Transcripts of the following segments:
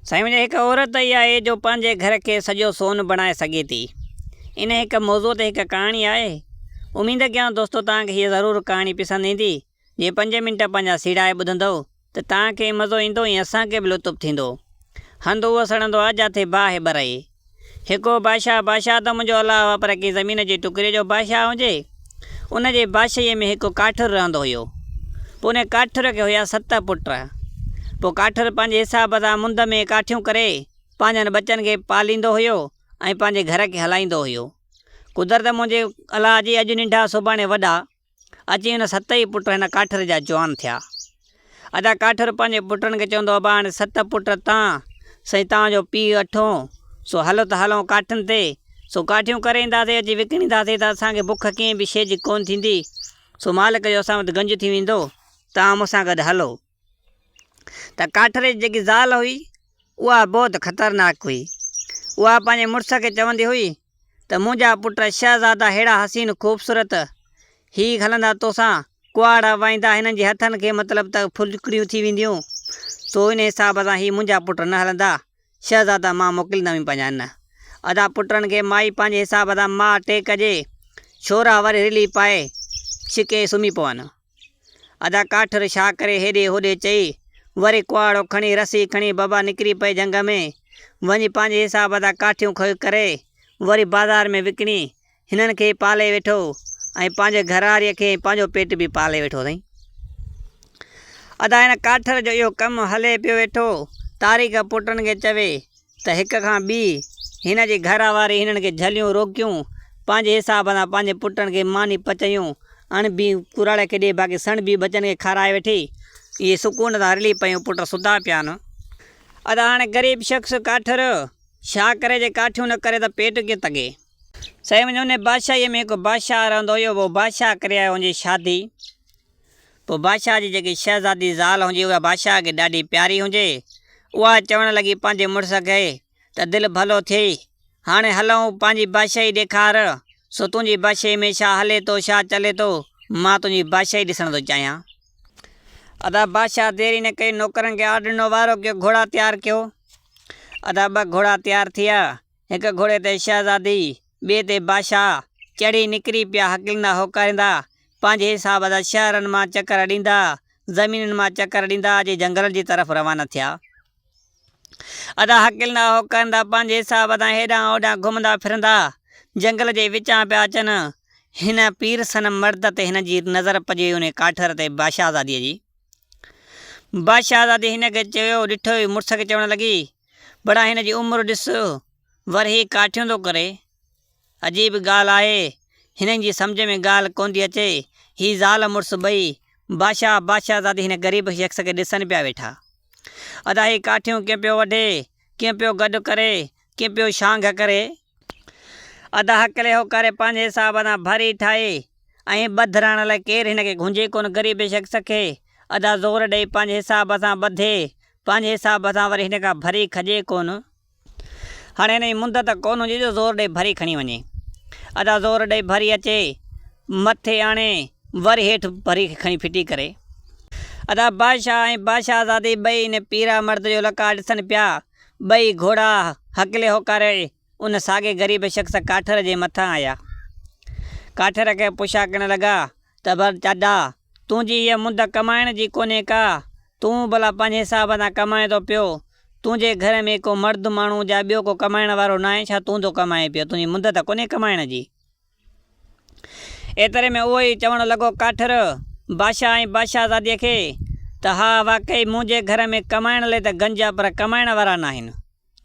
سائين منهنجي هڪ عورت ئي آهي جو پنهنجي گهر کي سڄو سون بڻائي سگهي ٿي. ان هڪ موضوع تي هڪ ڪهاڻي آهي. اميد ڪيان دوستو توهان کي هيء ضرور ڪهاڻي پسند ايندي. جي پنج منٽ پنهنجا سيڙائي ٻڌندؤ ته توهان کي مزو ايندو ۽ اسان کي به لطف ٿيندو. هنڌ اهو سڙندو آ جاٿي باهه ٻرئي. هڪو بادشاهه، بادشاهه ته منهنجو الله هو پر ڪنهن زمين جي ٽڪري جو بادشاهه هجي. ان جي بادشاهيء ۾ هڪ ڪاٺر رهندو هيو. پوء ان ڪاٺر کي هيا ست پٽ. پوء ڪاٺر پنهنجي حساب سان مند ۾ ڪاٺيون ڪري پنهنجن ٻچن کي پاليندو هيو ۽ پنهنجي گهر کي هلائيندو هيو. قدرت منهنجي الله جي اڄ ننڍا سڀاڻي وڏا. اچي هن ست ئي پٽ هن ڪاٺر جا جوان ٿيا. ادا ڪاٺر پنهنجي پٽن کي چوندو ابا هاڻي ست پٽ تان سائين توهان جو پيء اٺون سو هلو ته هلون ڪاٺين تي سو ڪاٺيون ڪري اينداسين اچي وڪڻينداسين ته اسان کي بک ڪنهن به شيء جي ڪونه ٿيندي سو مالڪ جو اسان وٽ گنج ٿي ويندو توهان مون سان گڏ هلو. ته ڪاٺري جي جيڪي زال هئي اها بهت خطرناڪ هئي. اها پنهنجي مڙس کي چوندي هئي ته منهنجا پٽ شهزادا ههڙا حسين خوبصورت هي هلندا توسان ڪهاڙا وائيندا هنن جي هٿن کي مطلب ته ڦلڪڙيون ٿي وينديون سو ان حساب سان هي منهنجا پٽ نه هلندا شهزادا مان موڪليندم ئي پنهنجا نه ادا پٽن کي مائي پنهنجي حساب سان ماء ٽيڪ ڏي ڇورا وري رلي پائي ڇڪي سمهي پون. ادا ڪاٺر ڇا ڪري هيڏي هوڏي چئي، وري ڪهاڙو کڻي رسي کڻي بابا نڪري پئي جهنگ ۾، وڃي پنهنجي حساب ادا ڪاٺيون کئي ڪري وري بازار ۾ وڪڻي هنن کي پالي ويٺو ۽ پنهنجي گهراريء کي ۽ پنهنجو پيٽ به پالي ويٺو اٿئي. ادا هن ڪاٺر جو اهو ڪم هلي پيو ويٺو، تاريخ پٽن کي چوي. ته هڪ کان ٻي هن جي گهر واري هنن کي جهليون روڪيون، پنهنجي حساب سان پنهنجي پٽن کي ماني پچايون، اڻ بي ڪراڙي کي ڏي باقي سڻ بي ٻچن کي کارائي ويٺي، اهي سڪون سان رلي پيون پٽ سڌا پيا آهن. ادا هاڻي غريب شخص ڪاٺ رهيو ڇا ڪري جي ڪاٺيون نه ڪري ته پيٽ ڪيئن تنگي. سائين منهنجي انهي بادشاهيء ۾ هڪ بادشاهه رهندو هيو اهو بادشاهه ڪري آيو ان جي شادي پوء بادشاهه جي جيڪي شهزادي زال هوندي اها بادشاهه کي ڏاڍي پياري هوندي، اها چوڻ لڳي پنهنجي مڙس کي ته دل ڀلو ٿئي، هاڻي هلئون پنهنجي بادشاهي ڏيکار، سو تنهنجي بادشاهي ۾ ڇا هلي ٿو ڇا چلي ٿو، مان تنهنجي بادشاهي ڏسڻ ٿو چاهيان. ادا بادشاهه دير ئي نه ڪئي نوڪرن کي آرڊر ڏنو وارو ڪيو گهوڙا تيار ڪيو. ادا ٻه گهوڙا تيار ٿيا هڪ گهوڙي تي شهزادي، ٻئي تي بادشاهه، چڙهي نڪري پيا هڪلندا هوڪاريندا، پنهنجي حساب سان شهرن مان چڪر ڏيندا، زمينن مان چڪر ڏيندا جي جنگلن جي طرف روانا ٿيا. ادا هڪلندا هوڪاريندا پنهنجي حساب سان هيڏانهن هوڏانهن گهمندا ڦرندا، جنگل جي وچان پيا اچن. هن پير صنم مرد تي هن جي نظر پڄي انهي ڪاٺر تي بادشاهزادي جي. بادشاهزادي هن کي چيو، ڏٺوئي مڙس کي چوڻ لڳي، بڙا هن جي عمر ڏس، ورهيه ڪاٺيون ٿو ڪري. عجيب ڳالهه آهي، هنن جي سمجهه ۾ ڳالهه ڪونه ٿي اچي، هي زال مڙس ٻئي بادشاهه بادشاهه زادي هن غريب شخص کي ڏسن پيا ويٺا. ادا هي ڪاٺيون ڪين پيو وڍي، ڪين پيو گڏ ڪري، ڪين پيو شانگهه ڪري. ادا هڪلي هو ڪري پنهنجي حساب سان ڀري ٺاهي ۽ ٻڌ رهڻ لاء ڪير هن کي گهنجي ڪونه غريب شخص کي ادا زور ڏئي پنهنجي حساب سان ٻڌي پنهنجي حساب سان وري هن کان ڀري کڄي ڪونه هاڻي هن جي مندت ڪونه هجي جو زور ڏئي ڀري کڻي وڃي ادا زور ڏئي ڀري اچي مٿي آڻي وري هيٺ ڀري کڻي ڦٽي ڪري ادا بادشاهه ۽ بادشاهزادي ٻئي ان پيرا مرد جو لقاء ڏسن پيا. ٻئي گهوڙا هڪلي هوڪاري ان ساڳي غريب شخص ڪاٺر جي مٿان آيا. ڪاٺر کي پڇاڪڻ لڳا ته ڀل چاڏا، تنهنجي هيء منڌ ڪمائڻ جي ڪونهي ڪا؟ تون ڀلا پنهنجي حساب سان ڪمائين ٿو پيو. تنهنجي گهر ۾ ڪو مرد ماڻهو جا ٻيو ڪو ڪمائڻ وارو ناهي ڇا تون ٿو ڪمائين پيو؟ تنهنجي منڌ ته ڪونهي ڪمائڻ جي. ايتري ۾ اهو ئي چوڻ لڳو ڪاٺر باشا ۽ باشازاديء کي ته ها واقعي منهنجي گهر ۾ ڪمائڻ لئي ته گنج آ پر ڪمائڻ وارا ناهن.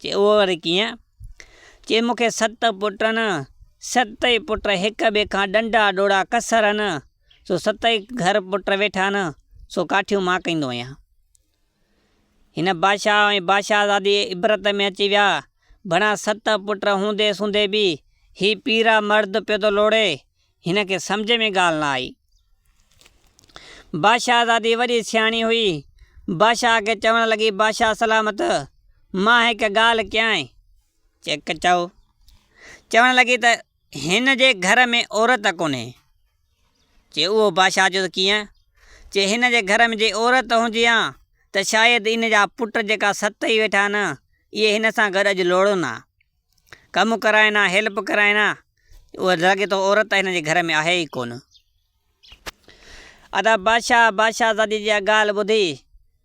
چي اهو وري ڪيئن؟ چي مون کي ست پٽن، ستئي پٽ هڪ ٻئي کان ڏنڊا ڏوڙا ڪسر هن، سو ستئي گهر پٽ ويٺا هن، سو ڪاٺيون مان ڪيندو آهيان. هن بادشاهه ۽ بادشاهزادي عبرت ۾ اچي ويا. بنان ست پٽ هوندي سوندي به هي پيرا مرد پيو ٿو لوڙي. هن کي سمجهه ۾ ڳالهه نه آئي. بادشاهزادي وڏي سياڻي هئي. بادشاهه کي چوڻ لڳي بادشاهه سلامت! مان هڪ ڳالهه ڪيانء. چئو. چوڻ لڳي ته هن جي گهر ۾ عورت ڪونهي. چي اهو بادشاهه جو ته ڪيئن؟ چي هن جي گهر ۾ جي عورت هجي ها ته شايد ان جا پٽ جيڪا ست هي ويٺا آهن اهي هن سان گڏ اڄ لوڙهن ها. ڪم ڪرائين ها، هيلپ ڪرائين ها. اهو لڳي ٿو عورت هن جي گهر ۾ آهي ئي ڪونه. ادا بادشاهه بادشاهزادي جي اها ڳالهه ٻڌي،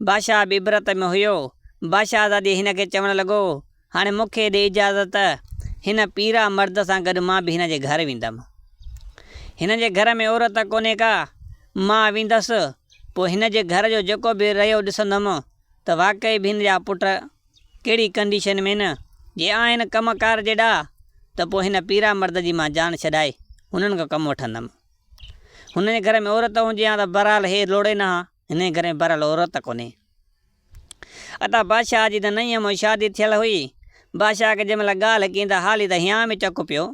بادشاهه به عبرت ۾ هيو، بادشاهزادي هن کي چوڻ لڳو، هاڻي مون کي ڏي اجازت، هن پيرا مرد سان گڏ مان به هن جي گهر ويندم. هن جي گهر ۾ عورت ڪونهي ڪا، مان ويندس، پوء هن جي گهر جو جيڪو به رهيو ڏسندم ته واقعي به هن جا پٽ ڪهڙي ڪنڊيشن ۾ نه جي آهن ڪم ڪار جي ڏاها ته پوء هن پيرا مرد جي مان جان ڇڏائي هنن کان ڪم وٺندم. هنن جي گهر ۾ عورت هجي هان ته بهرحال هي لوڙي نه هان، هنن جي گهر ۾ بهرحال عورت ڪونهي. ادا بادشاهه جي ته نئين همون شادي ٿيل هئي، بادشاهه کي جنهن مهل ڳالهه ڪئين ته هالي ته هيان ۾ چڪ پيو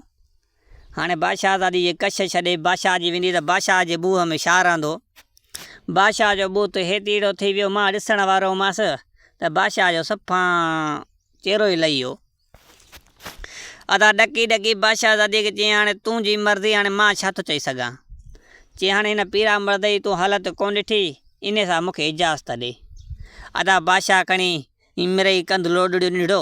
هاڻي بادشاهزادي جي ڪش ڇڏي بادشاهه جي ويندي ته بادشاهه جي ٻوهه ۾ ڇا رهندو؟ بادشاهه جو ٻوت هيتيڙو ٿي ويو مان ڏسڻ وارو هئمس ته بادشاهه جو صفان چهرو ئي لهي ويو. ادا ڏڪي ڏڪي بادشاهزادي کي چيائين هاڻي تنهنجي مرضي هاڻي مان ڇا ٿو چئي سگهان؟ چي هاڻي هن پيرا مرد جي تون حالت ڪونه ڏٺي انهي سان مون کي اجازت ڏي. ادا بادشاهه کڻي مرئي ڪنڌ لوڏڙيو ننڍڙو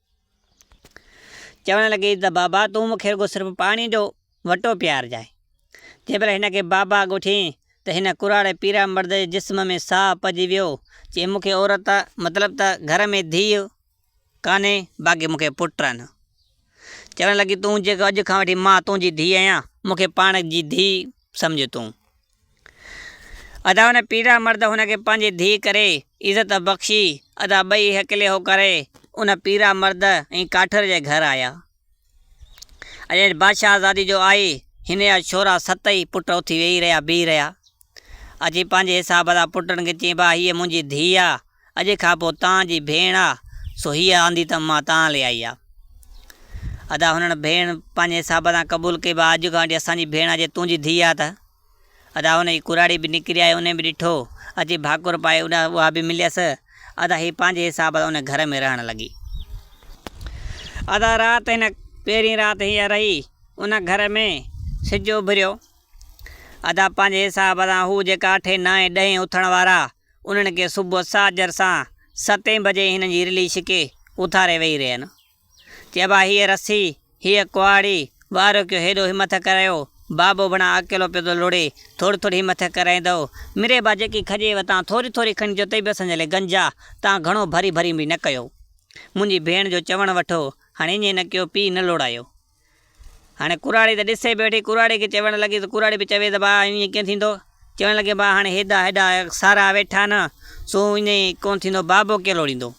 چوڻ لڳي ته بابا تون مون کي رڳو صرف پاڻي جو وٽو پيارجانء. جنهن مهل هن کي بابا ڳوٺيائين ته هن ڪراڙي پيرا مرد جي جسم ۾ ساهه پئجي ويو. چيائين مون کي عورت مطلب ته گهر ۾ ڌيء ڪانهي باقي مون کي پٽ آهن. چوڻ لڳي تون جيڪو اڄ کان وٺي مان تنهنجي ڌيء آهيان مون کي پاڻ جي ڌيء سمجهه تون. ادا ان پيڙا مرد هن کي پنهنجي ڌيء ڪري عزت بخشي. ادا ٻئي هڪلي هو ڪري ان پيڙا مرد ۽ ڪاٺر جي گهر آيا. اڄ بادشاهه زادي جو آئي هن جا ڇورا ست ئي پٽ اٿي ويهي رهيا بيهي رهيا. اچي پنهنجي حساب سان پٽن کي چئين ڀا هيء منهنجي ڌيء آ. اڄ کان پوء تان جي ڀيڻ آ سو هيء آندي ته مان تان لي آئي آ. ادا هنن ڀيڻ پنهنجي حساب سان قبول ڪئي به اڄ کان وٺي اسان جي ڀيڻ آ جي تنهنجي ڌيء آ ته. ادا هن جي ڪراڙي به نڪري آئي انهي به ڏٺو اچي ڀاڪر پائي اڏا اها به مليس. ادا هي پنهنجي حساب سان انهي گهر ۾ رهڻ لڳي. ادا رات هن پهرين رات هيء رهي ان گهر ۾ سج اڀريو. ادا پنهنجي حساب سان هو جيڪا اٺين نائين ڏهين اٿڻ وارا انهن کي صبح ساجهر سان ستين بجي هنن جي رلي ڇڪي اٿاري ويهي رهين. چئبا هيء رسي، هيء ڪهاڙي، واريوڪيو هيڏو همٿ ڪرايو، بابو بڻا اڪيلو پيو ٿو لڙي، ٿوري ٿوري همٿ ڪرائيندؤ. ميري با جيڪي کجي وتان ٿوري ٿوري کڻي جو تي به اسان جي لاء گنجا، تان گهڻو ڀري ڀري به نه ڪيو. منهنجي ڀيڻ جو چوڻ وٺو، هاڻي ائين نه ڪيو، پيء نه لوڙايو. هاڻي ڪراڙي ته ڏسي به ويٺي، ڪراڙي کي چوڻ لڳي ته ڪراڙي به چوي ته ڀاء ائين ڪيئن ٿيندو؟ چوڻ لڳي ڀاء هاڻي هيڏا هيڏا سارا ويٺا نه، سو ائين ڪونه ٿيندو، بابو ڪير لوڙيندو؟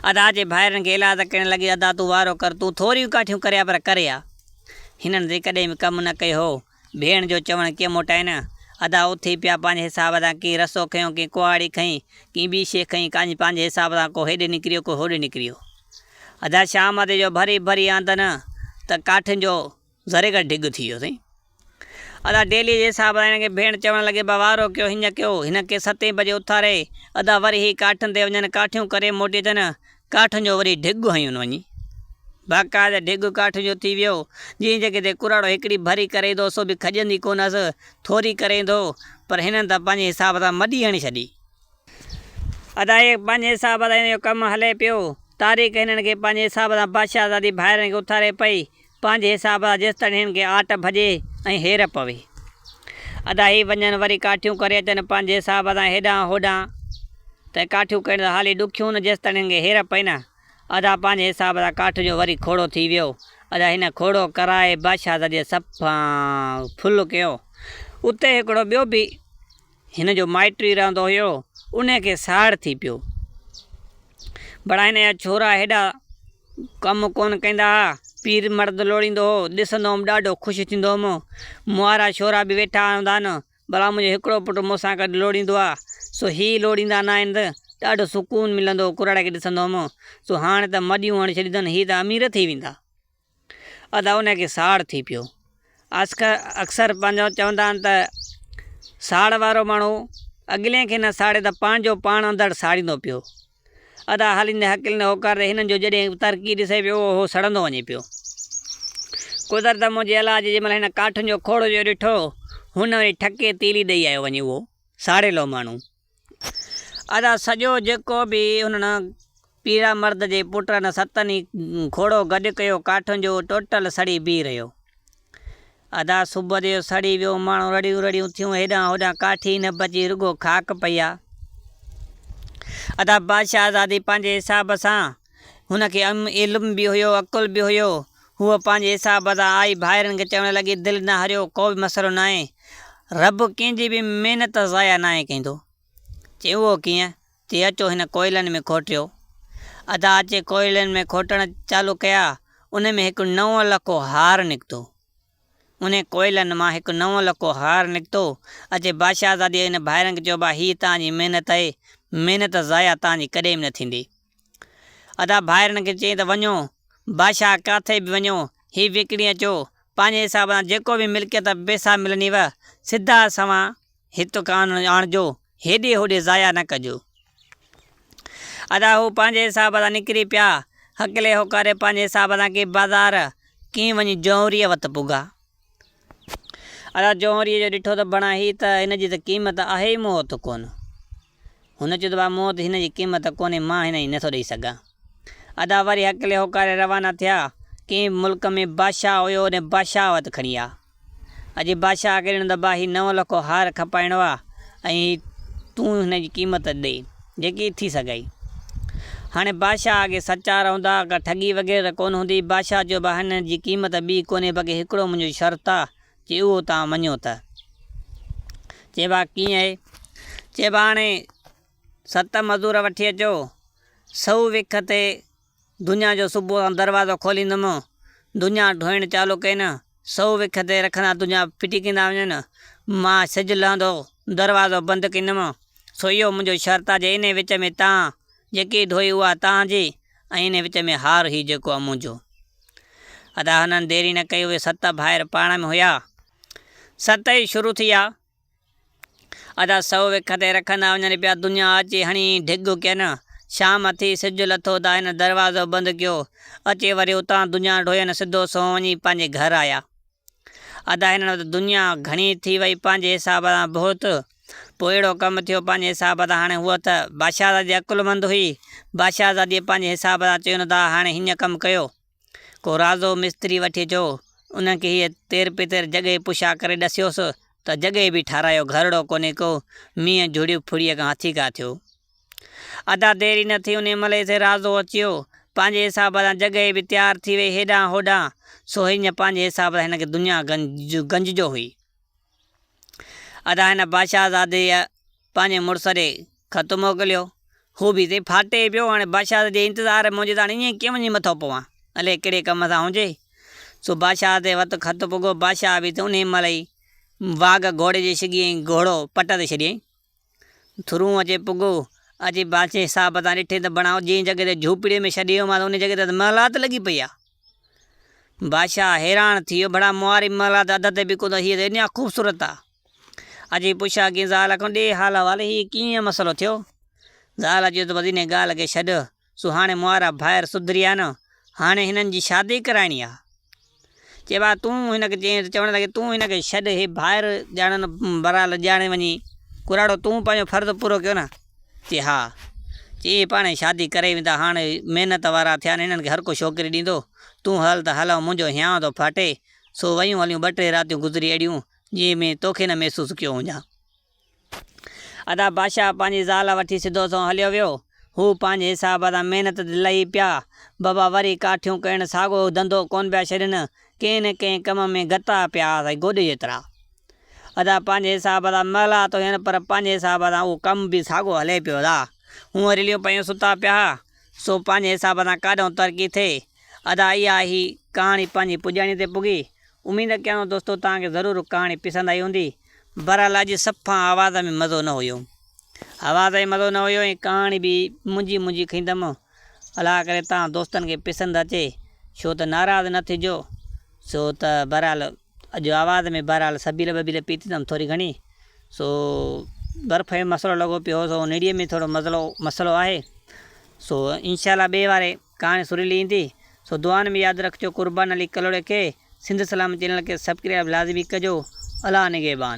ادا جي ڀائرن کي الاهه ته ڪرڻ لڳي، ادا تون وارو ڪر، تون ٿوريون ڪاٺيون ڪري آ پر ڪري آ. هنن جيڪڏهن به ڪم نه ڪيو هو ڀيڻ جو چوڻ ڪيئن موٽائين؟ ادا اٿي پيا پنهنجي حساب سان ڪنهن رسو کنيو ڪنهن ڪهاڙي کنئي ڪنهن ٻي شيء کنئي ڪاڄ پنهنجي حساب سان ڪو هيڏي نڪريو ڪو هوڏي نڪريو ادا شام تي جو ڀري ڀري آندن ته ڪاٺين جو زريگر ڍڳ ٿي ويو سائين ادا ڊيلي جي حساب سان هن کي ڀيڻ چوڻ لڳي با وارو ڪيو هينئن ڪيو هن کي ستين بجي اٿاري ادا وري هي ڪاٺين تي وڃن ڪاٺيون ڪري موٽي اچن ڪاٺ جو وري ڍڳ هنيون وڃي. باقاعده ڍڳ ڪاٺ جو ٿي ويو، جنهن جڳهه تي ڪراڙو هڪڙي ڀري ڪريندو، سو به کڄندي ڪونهس، ٿوري ڪريندو، پر هنن ته پنهنجي حساب سان مڏي هڻي ڇڏي. ادا هي پنهنجي حساب سان هن جو ڪم هلي پيو. تاريخ هنن کي پنهنجي حساب سان بادشاهزادي ڀائرن کي اٿاري پئي. پنهنجي حساب سان جيستائين هن کي آٽ ڀڄي ۽ هير پوي. ادا هي وڃن وري ڪاٺيون ڪري اچن پنهنجي حساب سان هيڏانهن هوڏانهن ته ڪاٺيون ڪرڻ ته حالي ڏکيون نه جيستائين هن کي هير پئي نه. ادا پنهنجي حساب سان ڪاٺ جو وري کوڙو ٿي ويو. ادا هن کوڙو ڪرائي بادشاهزاديء سڀ کان ڦل ڪيو. اتي هڪڙو ٻيو به. هن جو مائٽ ئي رهندو هيو، انهي کي ساڙ ٿي پيو. بڙا هن جا ڇورا هيڏا ڪم ڪونه ڪيندا ها. پير مرد لوڙيندو هو، ڏسندو هوم ڏاڍو خوش ٿيندو هوم. موهارا ڇورا به ويٺا هوندا آهن، بڙا منهنجو هڪڙو پٽ مون سان گڏ لوڙيندو آ، سو هي لوڙيندا ناهن ته ڏاڍو سڪون ملندو هو، ڪرڙ کي ڏسندو هوم، سو هاڻ ته مڏيون هڻي ڇڏيون اٿن، هي ته امير ٿي ويندا. ادا انهي کي ساڙ ٿي پيو. آسڪر اڪثر پنهنجو چوندا آهن ته ساڙ وارو ماڻهو اڳلين کي نه ساڙي ته پنهنجو پاڻ اندر ساڙيندو پيو. ادا هاليندي هڪليندي هوڪار ڏئي هنن جو جڏهن ترقي ڏسي پيو اهو سڙندو وڃي پيو. قدرت منهنجي الله جي جنهن مهل هن ڪاٺن جو کوڙو جو ڏٺو هن وري ٺڪي تيلي ڏئي آيو وڃي اهو ساڙيلو ماڻهو. ادا سڄو جيڪو به انهن پيرا مرد جي پٽن ستن ئي کوڙو گڏ ڪيو ڪاٺن جو ٽوٽل سڙي بيهي رهيو. ادا صبح جو سڙي ويو ماڻهو رڙيون رڙيون ٿيون هيڏانهن هوڏانهن ڪاٺ ئي نه بچي رڳو خاڪ پئي آ. ادا بادشاهزادي پنهنجي حساب سان هن کي علم به هيو عقل به هيو. هوء پنهنجي حساب سان آئي ڀائرن کي چوڻ لڳي، دل نه هريو، ڪو به مسئلو ناهي. رب ڪنهن جي به محنت ضايع ناهي ڪندو. چيائين، اهو ڪيئن؟ چي، اچو هن ڪوئلن ۾ کوٽيو. ادا اچي ڪوئلن ۾ کوٽڻ چالو ڪيا، انهن ۾ هڪ نئون لکو هار نڪتو. انهن ڪوئلن مان هڪ نئون لکو هار نڪتو. اچي بادشاهزادي هن ڀائرن کي چيو، ادا هيء توهان جي محنت آهي، محنت ضايع توهان جي ڪڏهن به نه ٿيندي. ادا ڀائرن کي چئي ته وڃو باشاهه ڪاٿي به وڃو هي وڪڻي اچو پنهنجي حساب سان جيڪو به ملڪيت پئسا ملنيو سڌا سوان هت ڪان آڻجو هيڏي هوڏي ضايع نه ڪجو. ادا هو پنهنجي حساب سان نڪري پيا هڪلي هوڪاري پنهنجي حساب سان ڪي بازار ڪي وڃي جهوريء وت پڳا. ادا جوهريء جو ڏٺو ته بڻا هي ته هن جي ته قيمت آهي ئي موت ڪونه. هن چيو ته ڀاء موت هن جي قيمت ڪونهي مان هن جي نٿو ڏئي سگهان. ادا وري هڪ لي هوڪاري روانا ٿيا. ڪنهن به ملڪ ۾ بادشاهه هيو ان بادشاهه وٽ کڻي آيا. اڄ بادشاهه کي ڏنو ته ڀاء هي نو لکو هار کپائڻو آهي ۽ تون هن جي قيمت ڏي. جيڪي ٿي سگهي. هاڻي بادشاهه اڳي سچا رهندا، ڪا ٺڳي وغيره ته ڪونه هوندي. بادشاهه چيو، ڀاء هنن جي قيمت ٻي ڪونهي، بلڪه هڪڙو منهنجو شرط آ، جي اهو توهان مڃيو ته. چي ڀاء ڪيئن اهي؟ چي ڀاء هاڻي ست مزور وٺي اچو، سؤ وک تي. دنيا جو صبح سان دروازو کوليندم، دنيا ڍوئڻ چالو ڪين، سو وک تي رکندا دنيا ڦٽي ڪيندا وڃن، مان سج لھندو دروازو بند ڪيندم، سو اھو منھنجو شرط آ جي انھي وچ ۾ تان جيڪي ڍوئي اھا تان جي ۽ انھي وچ ۾ ھار ھي جيڪو آ منھنجو. ادا ھنن ديري نه ڪئي اھي ست ڀائر پاڻ ۾ ھيا. ست ئي شروع ٿي آ. ادا سو وک تي رکندا وڃن پيا دنيا اچي هڻي ڍڳ ڪين. شام ٿي سج لٿو ته هن دروازو بند ڪيو. اچي وري اتان دنيا ڍوئين سڌو سنئون وڃي پنهنجي گهر آيا. ادا هنن وٽ دنيا گهڻي ٿي وئي پنهنجي حساب سان بهت. پوء اهڙو ڪم ٿيو پنهنجي حساب سان هاڻي هوء ته بادشاهزادي عقلمند هئي. بادشاهزاديء پنهنجي حساب سان چيو نه ادا هاڻي هيئن ڪم ڪيو. ڪو رازو مستري وٺي جو انهن کي هيء تير پتير جڳهه پشا ڪري ڏسيوس ته جڳهه به ٺارايو گهرڙو ڪونهي ڪو مينهن جهڙيء ڦڙيء کان هٿي ڪا ٿيو. ادا دير ئي نه ٿي انهيء مهل ئي سي رازو اچيو پنهنجي حساب سان جڳهه به تيار ٿي وئي هيڏانهن هوڏانهن سو هينئن پنهنجي حساب سان هن کي دنيا گنج گنج جو هئي ادا هن بادشاهزاديء پنهنجي مڙس ڏي خط موڪليو. هو به اتي ڦاٽي پيو. هاڻي بادشاهت جي انتظار ۾ منهنجي ته هاڻي ائين ڪيئن وڃي مٿو پوان. الئي ڪهڙي ڪم سان هجي. سو بادشاهت جي وت خط پڳو. بادشاهه به ته انهي مهل ئي واگهه گهوڙي جي شگي ۽ گهوڙو پٽ تي ڇڏيائين. ٿرون اچي پڳو. اچي بادشاهي صاحب تان ڏٺي ته بڻائو جنهن جڳهه تي جهوپڙيء ۾ ڇڏي ويو مانس انهي جڳهه تي ته محلات لڳي پئي آ. بادشاهه حيران ٿي ويو. ڀلا مئاري محلات اڌ تي به ڪونه هئي ته ايڏيان خوبصورت آ. اچي پڇيا ڪين زال کان ڏي حال احوال هي ڪيئن مسئلو ٿيو؟ زال چيو ته بس انهي ڳالهه کي ڇڏ سو هاڻي مهارا ڀائر سڌري آ نه هاڻي هنن جي شادي ڪرائڻي آ چي ڀاء تون هن کي چئين ته چوڻ لڳي تون هن کي ڇڏ هي ڀائر ڄاڻن برا لڄاڻي وڃي ڪراڙو تون پنهنجو فرض پورو ڪيو نه چي ها چي اهي پاڻهي شادي ڪري ويندا هاڻي محنت وارا ٿيا هنن کي هرڪو ڇوڪري ڏيندو تون هل ته هل منهنجو هيانء ٿو ڦاٽي سو ويون هليون ٻه ٽي راتيون گذري اڙيون جيئن مين توکي نه محسوس ڪيو هجان. ادا بادشاهه پنهنجي زال وٺي سڌو سنئون هليو ويو. هو پنهنجي حساب سان محنت تي لهي پيا. بابا وري ڪاٺيون ڪرڻ ساڳو ڌنڌو ڪونه پيا ڇڏين. ڪنهن نه ڪنهن ڪم ۾ گتا پيا سائين گوڏي جيترا. ادا پنهنجي حساب سان مهلات هين پر پنهنجي حساب سان اهو ڪم به ساڳو هلي پيو ادا. هونء رليون پيون ستا پيا ها سو پنهنجي حساب سان ڪاڏهون ترقي ٿئي. ادا اها هي ڪهاڻي پنهنجي پڄاڻي تي پڳي. اميد ڪيان ٿو دوستو توهان کي ضرور ڪهاڻي پسند آئي هوندي بهرحال اڄ صفا آواز ۾ مزو نه هيو آواز ۾ مزو نه هيو ۽ ڪهاڻي به منجهي منجهي کيندم الله ڪري توهان دوستن کي پسند اچي ڇو ته ناراض نه ٿجو سو ته بهرحال اڄ آواز ۾ بهرحال سبيل ٻبيل پيتي اٿم ٿوري گهڻي سو برف جو مسئلو لڳو پيو هو سو نيڙي ۾ ٿورو مسئلو مسئلو آهي سو انشاء الله ٻئي واري ڪهاڻي سريلي ايندي سو دعائن ۾ ياد رکجو قربان علي ڪلهوڙي کي سنڌ سلام چينل کي سبڪرياب لازمي ڪجو الله نگهبان.